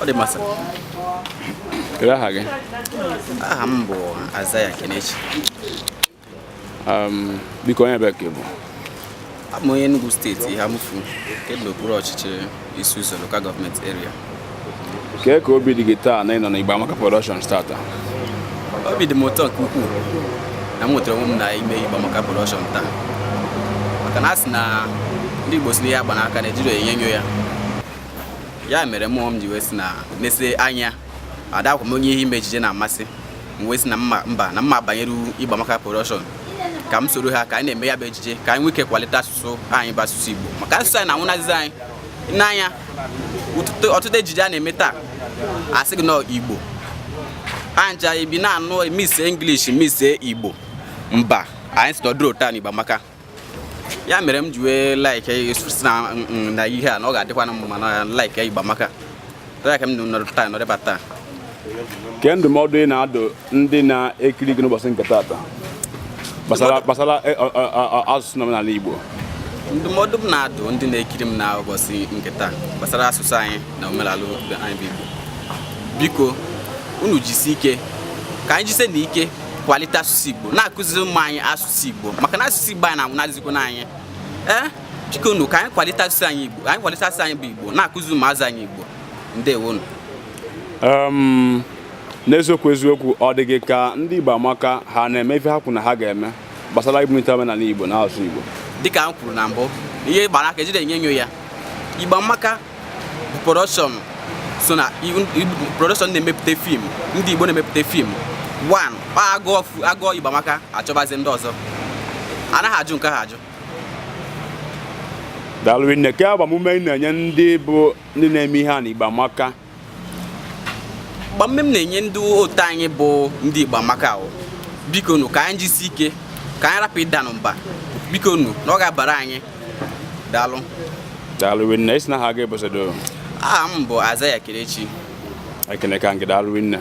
ọ dị mma sa kedu aha gị aha m bụ Azaya Kenechi um, biko onye ebe ka ị bụ abụ m onye Enugu steeti Eha Amufu nke dị n'okpuru ọchịchị Isi Uzo local government area kee ka obi dị gị taa na ị nọ na Igbo Amaka Production taata obi dị m ụtọ nke ukwuu na m nwetara onwe m na ime Igbo Amaka Production taa maka na a sị na ndị Igbo sị na ihe a gba n'aka na-ejiri enyo enyo ya ya mere mmụọ m ji wee sị na nese anya adịkwa m onye ihe ime ejije na-amasị m wee sị na mma mba na mma banyere Igbo Amaka Production ka m soro ha ka anyị na-eme ya bụ ejije ka anyị nwee ike kwalite asụsụ anyị bụ asụsụ Igbo maka asụsụ anyị na-anwụnazizi anyị n'anya ụtụtụ- ọtụtụ ejije a na-eme taa a sị gị na Igbo anja ibi na-anụ mix English mix Igbo mba anyị si nọdụrụ taa n'Igbo Amaka ya mere m ji wee like sị na mm, mm, na ihe a na ọ ga-adịkwa na mma na like Igbo Amaka ya ka m nọrọ taa nọrịba taa kee ndụmọdụ ị na-adụ ndị na-ekiri gị n'ụbọchị nke taata gbasara e, asụsụ na omenala Igbo ndụmọdụ m na-adụ ndị na-ekiri m na ụbọchị nke taa gbasara asụsụ anyị na omenala anyị bụ Igbo biko unu jisi ike ka anyị jise na ike kwalite asụsụ Igbo na-akụziri ụmụ anyị asụsụ asụsụ Igbo maka na asụsụ Igbo anyị na-anwụnazikwa n'anya ee biko nu ka anyị kwalite asụsụ anyị Igbo anyị kwalite asụsụ anyị bụ Igbo na-akụziri ụmụazị anyị Igbo ndewonu um, n'eziokwu eziokwu ọ dị gị ka ndị Igbo Amaka ha na-eme ife ha kwuru na ha ga-eme gbasara ibunite omenala Igbo na asụsụ Igbo dịka m kwuru na mbụ ihe gbara aka ejide enyo enyo ya Igbo Amaka production so na production na-emepụta fim ndị Igbo na-emepụta fim one a gụọ a gụọ Igbo Amaka a chọbazie ndị ọzọ anaghị ajụ nke ha ajụ daalụ nne kee agbamume ị na-enye ndị bụ ndị na-eme ihe a na Igbo Amaka agbamume m na-enye ndị otu anyị bụ ndị Igbo Amaka ahụ biko nu ka anyị jisi ike ka anyị rapụ ịda na mba biko nu na ọ ga-abara anyị daalụ daalụ rinne ị sị na aha ga-ebosodo aha m bụ Azaya Kenechi ekeneka nke daalụ rinne